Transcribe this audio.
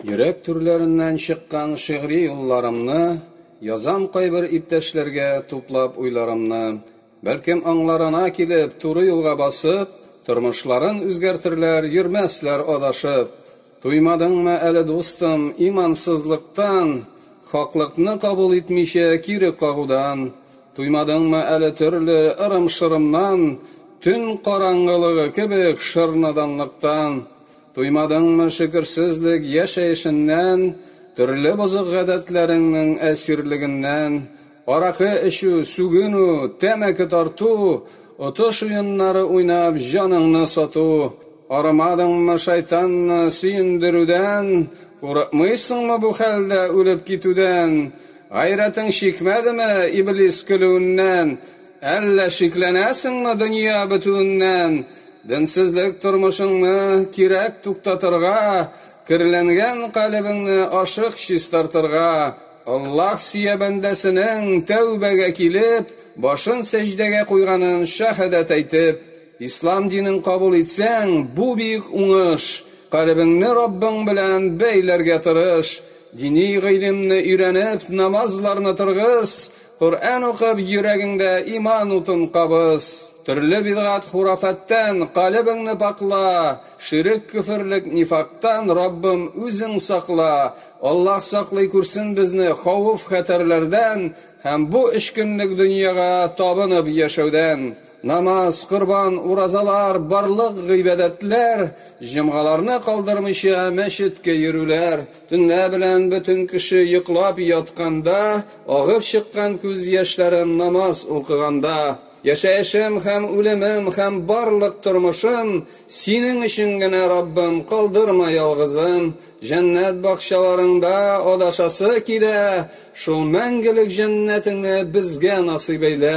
Йөрәк түрләреннән чыккан шигъри юлларымны Язам кайбер иптәшләргә туплап уйларымны. Бәлкем аңларына килеп, туры юлга басып, Тормышларын үзгәртерләр, йөрмәсләр адашып. Туймадыңмы әле, дустым, имансызлыктан, Хаклыкны кабул итмичә, кире кагудан? Туймадыңмы әле төрле ырым-шырымнан, Төн караңгылыгы кебек шыр наданлыктан? Туймадыңмы шөкерсезлек яшәешеннән, төрле бозык гадәтләреңнең әсирлегеннән, аракы эчү, сүгенү, тәмәке тарту, отыш уеннары уйнап җаныңны сату, арымадыңмы шайтанны сөендерүдән, курыкмыйсыңмы бу хәлдә үлеп китүдән, гайрәтең чикмәдеме иблис көлүеннән, Әллә шикләнәсеңме дөнья бетүеннән? Денсезлек тормышыңны кирәк туктатырга, керләнгән калебеңне ашык чистартырга, Аллаһ сөя бәндәсенең тәүбәгә килеп, башын сәҗдәгә куйганын шәһадәт әйтеп, Ислам динен кабул итсәң, бу бик уңыш, калебеңне Раббың белән бәйләргә тырыш, дини гыйлемне өйрәнеп, намазларны торгыз, Коръән укып, йөрәгеңдә иман утын кабыз. Төрле бидгать-хурафәттән калебеңне пакла, ширек-көферлек нифактан, Раббым, үзең сакла. Аллаһ саклый күрсен безне хавыф-хәтәрләрдән һәм бу өч көнлек дөньяга табынып яшәүдән. Намаз, корбан, уразалар, барлык гыйбадәтләр, җомгаларны калдырмыйча мәчеткә йөрүләр, Төнлә белән бөтен кеше йоклап ятканда агып чыккан күз яшьләрем намаз укыганда, Яшәешем һәм үлемем һәм барлык тормышым Синең өчен генә, Раббым, калдырма ялгызым, Җәннәт бакчаларыңда адашасы килә, Шул мәңгелек җәннәтеңне безгә насыйп әйлә.